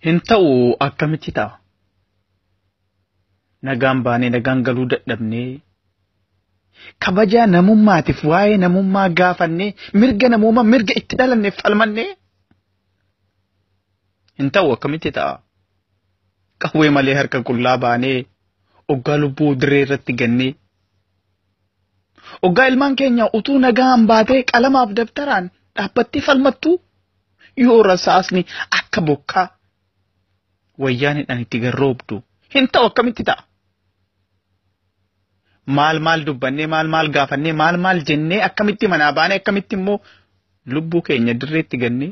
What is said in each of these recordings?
Hin ta'u akkamitti ta'a? Nagaan baanee nagaan galuu dadhabnee kabajaa namummaatiif waa'ee namummaa gaafannee mirga namummaa mirga itti dhalanneef falmannee hin ta'u akkamitti ta'a? Qawwee malee harka qullaa baanee oggaa lubbuu dirree irratti gannee Oggaa ilmaan keenya utuu nagaan baatee qalamaaf dabtaraan dhaabbattee falmattuu yoo rasaasni akka bokkaa wayyaanidhaan itti garroobdu hin ta'u akkamitti ta'a? Maal maal dubbannee maal maal gaafannee maal maal jennee akkamitti manaa baanee akkamitti immoo lubbuu keenya dirreetti gannee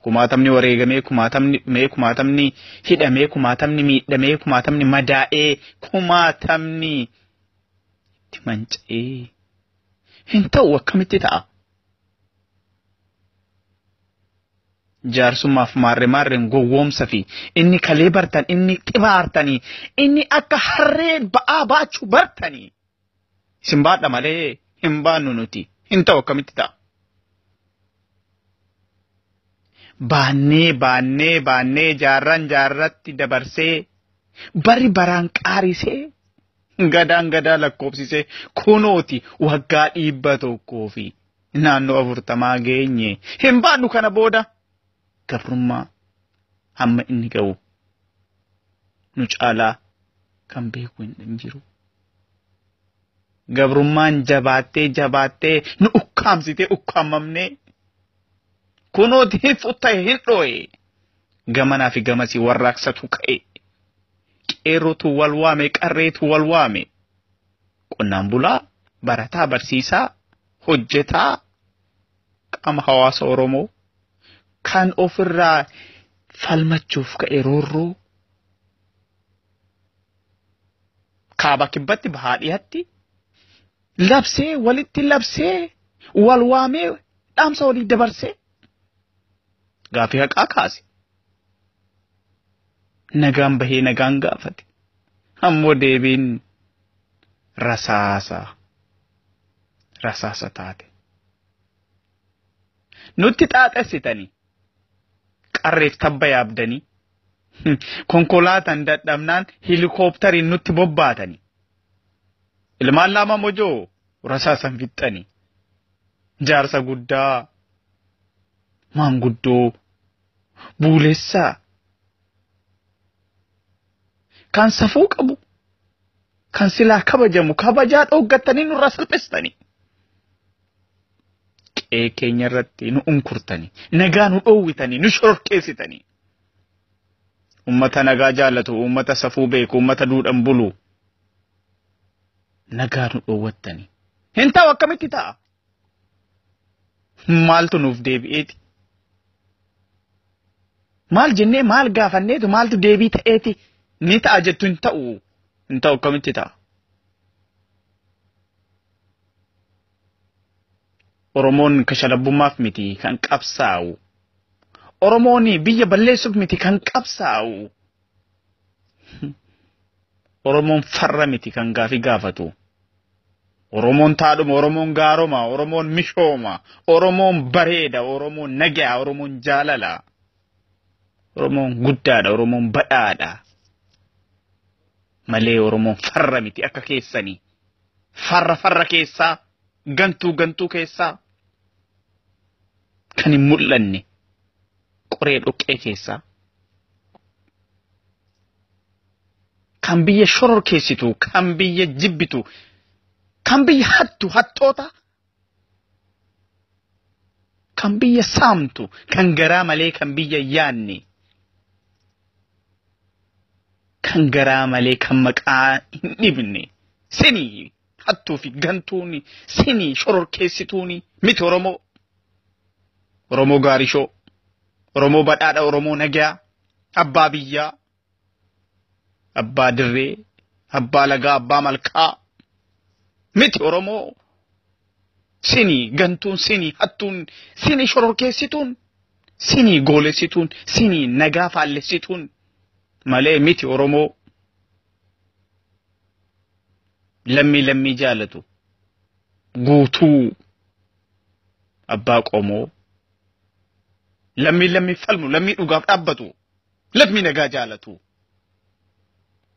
Kumaatamni wareegamee, kumaatamni dhumee, kumaatamni hidhamee, kumaatamni miidhamee, kumaatamni madaa'ee, kumaatamni itti manca'ee hin ta'u akkamitti ta'a? Jaarsummaaf maarre maarreen gowwoomsa fi inni kalee bartan, inni xibaartanii, inni akka harree ba'aa baachuu bartanii. Isin baadha malee hin baannu nuti. Hin ta'u akkamitti ta'a? Baannee baannee baannee jaarraan jaarratti dabarsee bari baraan qaarisee gadaan gadaa lakkoofsisee kunooti waggaa dhibba tokkoo fi naannoo afurtamaa geenye hin baannu kana booda gabrummaa hamma inni ga'u nu caalaa kan beeku hin jiru. gabrummaan jabaattee jabaattee nu ukkaamsitee ukkaamamnee kunoo deeffu ta'e hin dhooye gamanaa fi gamasii warraaqsatu ka'e qeerrotu wal waame qarreetu wal waame qonnaan bulaa barataa barsiisaa hojjetaa qaama hawaasa Oromoo kan ofirraa falmachuuf ka'e roorroo kaaba kibbatti bahaa dhihatti labsee walitti labsee wal waamee dhaamsa walii dabarsee gaafii haqaa kaase. Nagaan bahee nagaan gaafate. Ammoo deebiin rasaasa rasaasa taate. Nutti xaaxessitanii qarreef tabba yaabdanii konkolaataan dadhabnaan helikooppitariin nutti bobbaatanii ilmaan lama mojoo rasaasan fixxanii jaarsa guddaa maanguddoo buulessaa kan safuu qabu kan silaa kabajamu kabajaa dhooggattanii nurra salphistanii qe'ee keenya irratti nu unkurtanii nagaa nu dhoowwitanii nu shororkeessitanii ummata nagaa jaallatu ummata safuu beeku ummata duudhan bulu nagaa nu dhoowwattanii hin ta'u akkamitti ta'a maaltu nuuf deebi'eeti maal jennee maal gaafanneetu maaltu deebii ta'eeti ni ta'a jettu hin ta'u hin ta'u akkamitti ta'a Oromoon kashalabbummaaf miti kan qabsaa'u. Oromoon biyya balleessuuf miti kan qabsaa'u. Oromoon farra miti kan gaafii gaafatu. Oromoon taadhuma, Oromoon gaaroma, Oromoon mishooma, Oromoon bareeda, Oromoon nagaa, Oromoon jaalala. Oromoon guddaadha, Oromoon badhaadha. malee Oromoon farra miti akka keessanii. Farra farra keessaa, gantuu gantuu keessaa, kan hin mul'anne qoree dhoqqee keessaa. Kan biyya shororkeessitu, kan biyya jibbitu, kan biyya hattu hattoota kan biyya saamtu kan garaa malee kan biyya yaanne kan garaa malee kan maqaa hin dhibne sini hattuu fi gantuuni sini shororkeessituuni miti oromoo oromoo gaarishoo oromoo badhaadha oromoo nagaa abbaa biyyaa abbaa dirree, abbaa lagaa, abbaa malkaa miti Oromoo sini gantuun sini hattuun sini shororkeessituun sini goolessituun sini nagaa faallessituun malee miti Oromoo lammii lammii jaalatu guutuu abbaa qomoo lammii lammii falmu lammii dhugaaf dhaabbatu Lammii nagaa jaalatu.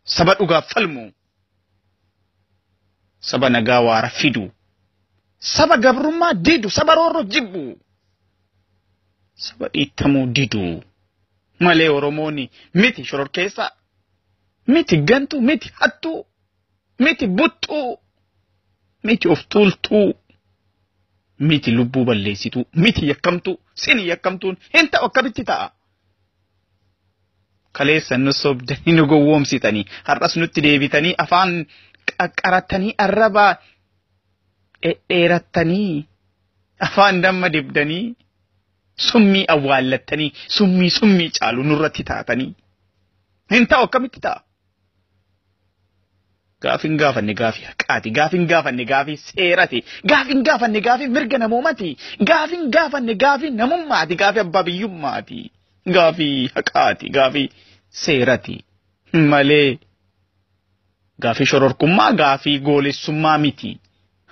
Saba dhugaaf falmu. Saba nagaa waara fidu. Saba gabrummaa didu. Saba roorroo jibbu. Saba dhiittamuu didu. Malee Oromoon miti shororkeessaa. Miti gantuu, miti hattuu, miti buttuu, miti of tuultuu, miti lubbuu balleessituu, miti yakkamtuu, sin yakkamtuun hin ta'u akkamitti ta'a? kaleessa nu sobdanii nu gowwoomsitanii har'as nutti deebitanii afaan qaqqarattanii arrabaa dhedheerattanii afaan damma dibdanii summii awwaallattanii summii summii caalu nurratti taatanii hin ta'u akkamitti ta'a Gaafin gaafanne gaafii haqaati. Gaafin gaafanne gaafii seerati. Gaafin gaafanne gaafii mirga namoomati. Gaafin gaafanne gaafii namummaati. Gaafii abbaa biyyummaati. Gaafii haqaati. Gaafii seerati. Malee gaafii shororkummaa gaafii goolessummaa miti.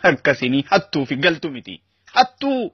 Akkasini hattuu fi galtu miti. Hattuu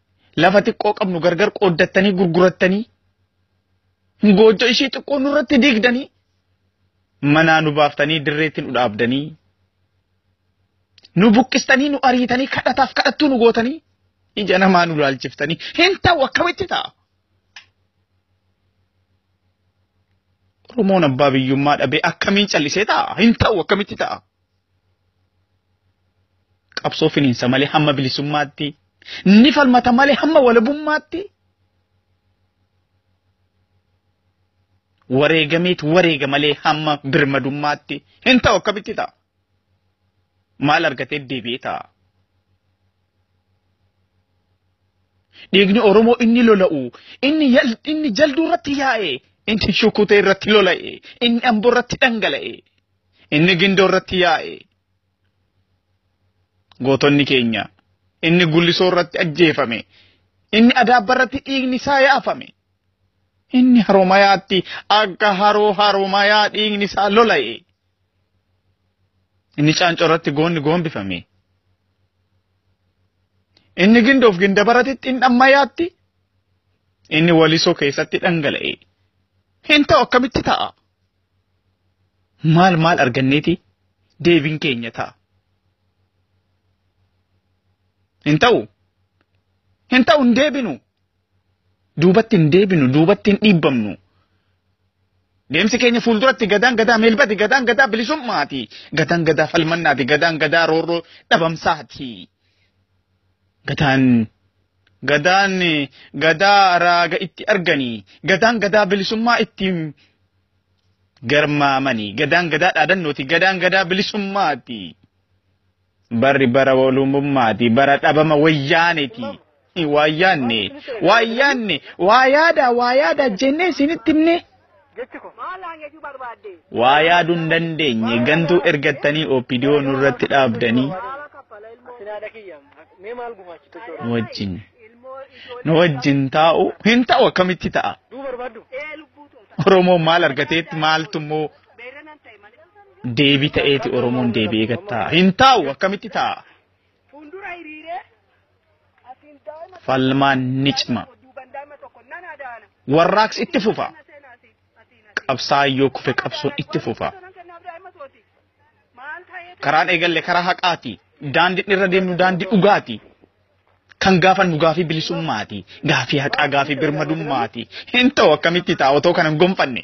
lafa xiqqoo qabnu gargar qooddattanii gurgurattanii goojjo ishii xiqqoo nurratti diigdanii manaa nu baaftanii dirreetti nu dhaabdanii nu buqqistanii nu ariitanii kadhataaf kadhattuu nu gootanii ija namaa nu laalchiftanii hin ta'u akkamitti ta'a. Oromoon abbaa biyyummaa dhabee akkamiin callisee ta'a hin ta'u akkamitti ta'a. qabsoo finiinsa malee hamma bilisummaatti ni falmata malee hamma walabummaatti wareegameet wareega malee hamma birmadummaatti hin ta'u akkamitti ta'a maal argatee deebi'ee ta'a dhiigni oromoo inni lola'u inni yal- inni jalduu irratti yaa'e inni shukutee irratti lola'e inni amboo irratti dhangala'e Inni gindoo irratti yaa'e. Gootonni keenya. Inni gullisoo irratti ajjeefame. Inni adaabba irratti dhiigni isaa yaafame. Inni haromayaatti akka haroo haromayaa dhiigni isaa lola'e. Inni caancoo irratti goonni goombifame. Inni gindoof gindabaratti xindhammayaatti inni walisoo keessatti dhangala'e. Hin ta'u akkamitti ta'a? Maal maal arganneeti deebiin keenya ta'a. Hin ta'u. Hin ta'u hin deebinu. Duubatti hin deebinu, duubatti hin dhiibbamnu. Deemsi keenya fuulduratti gadaan gadaa meelbati, gadaan gadaa bilisummaati, gadaan gadaa falmannaati, gadaan gadaa roorroo dhabamsaati. Gadaan Gadaan gadaa raaga itti arganii gadaan gadaa bilisummaa ittiin garmaamanii gadaan gadaa dhaadannooti gadaan gadaa bilisummaati barri bara walummaati bara dhabama wayyaaneeti waayyaanne waayyaanne waa yaadaa waa yaadaa jennee isinitti himne Jechi kun maalaan jechuu barbaadde? Waa yaaduu hin dandeenye gantuu ergattanii OPDO nurratti dhaabdanii Asinaadha kiyya mee maal gumaachitu jechuudha. nu wajjin nu wajjin taa'u hin ta'u akkamitti ta'a Duu barbaaddu? Oromoon maal argateetti maaltu immoo deebi ta'eeti Oromoon deebi'ee gattaa hin ta'u akkamitti ta'a Fuundura hiriiree asiin daa'ima Falmaan ni cima. duubaan daa'ima tokko nan adaana. Warraaqsi itti fufa. Qabsaa'aan yoo kufe qabsoon itti fufa. Karaan eegalle karaa haqaati. Daandiin irra deemnu daandii dhugaati. Kan gaafannu gaafii bilisummaati. Gaafii haqaa gaafii birmadummaati. Hin ta'u akkamitti ta'a otoo kana hin gonfanne.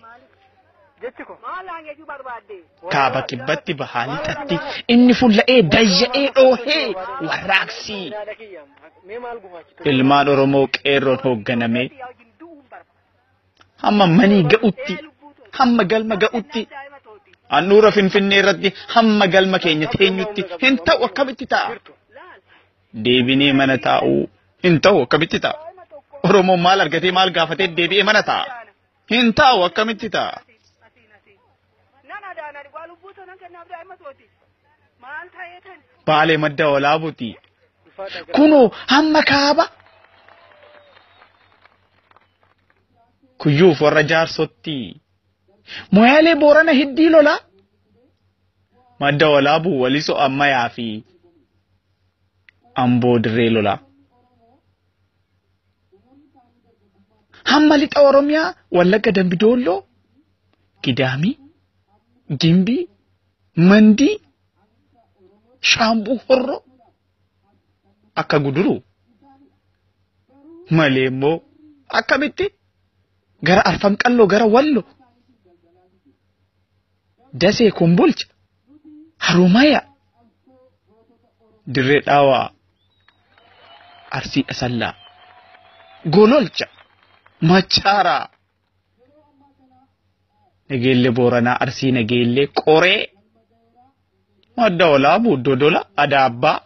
jechi kun maal naan jechuu barbaadde? Kaaba kibbatti bahaa lixatti inni fulla'ee dayya'ee dhoohee warraaqsii. Yaada kiyya mee maal gumaachitu? Ilmaan Oromoo qeerroon hoogganamee Yaa wajjin du'uun barbaadde. hamma manii ga'utti hamma galma ga'utti Daa'ima tooti. handhuura finfinnee irratti hamma galma keenya teenyutti hin ta'u akkamitti ta'a Jirtu. Laal. deebinee mana taa'uu hin ta'u akkamitti ta'a Daa'ima tokko. oromoon maal argatee maal gaafatee deebi'ee mana ta'a Hin taa'u akkamitti ta'a? Asiin asiin. Nan adaana dhugaa lubbuu too nan kennaaf daa'ima tooti. Maal ta'ee kan? Baalee madda walaabuti. Kunoo hamma kaaba. Kuyyuuf warra jaarsotti. Moyaalee boorana hiddii lolaa. Madda walaabuu waliso ammayaa fi amboo dirree lolaa. Hamma lixa Oromiyaa Wallagga Dambi Doolloo Gidaamii Gimbii Mandii Shaambuu Horroo akka guduru malee immoo akkamitti gara arfan qalloo gara wallo Dasee Kombolcha, Haromaya, Dirree Dhawaa, Arsii Asallaa, Gololcha, Machaaraa, Nageellee Booranaa, Arsii Nageellee, Qoree, Madda Olaabuu, Dodola, Adaabbaa,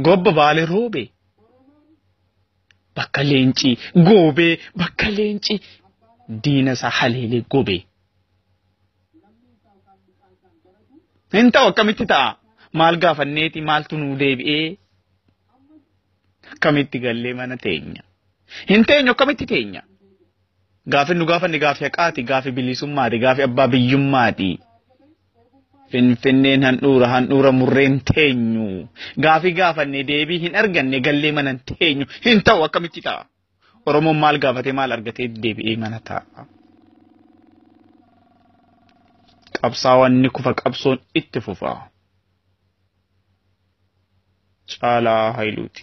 Gobba Baalee Roobee, bakka leencii goobee bakka leencii diina isaa haleelee gobee. Hin ta'u akkamitti ta'a? Maal gaafanneeti maaltu nuu deebi'ee? Akkamitti gallee mana teenya? Hin teenyu akkamitti teenya? Gaafin nu gaafanne gaafi haqaati, gaafi bilisummaati, gaafi abbaa biyyummaati. Finfinneen handhuura handhuura murreen teenyu gaafii gaafanne deebii hin arganne gallee manan teenyu hin ta'u akkamitti ta'a Oromoon maal gaafatee maal argatee deebi'ee mana ta'a. Qabsaawaan ni kufa qabsoon itti fufa. Caalaa Hayiluuti.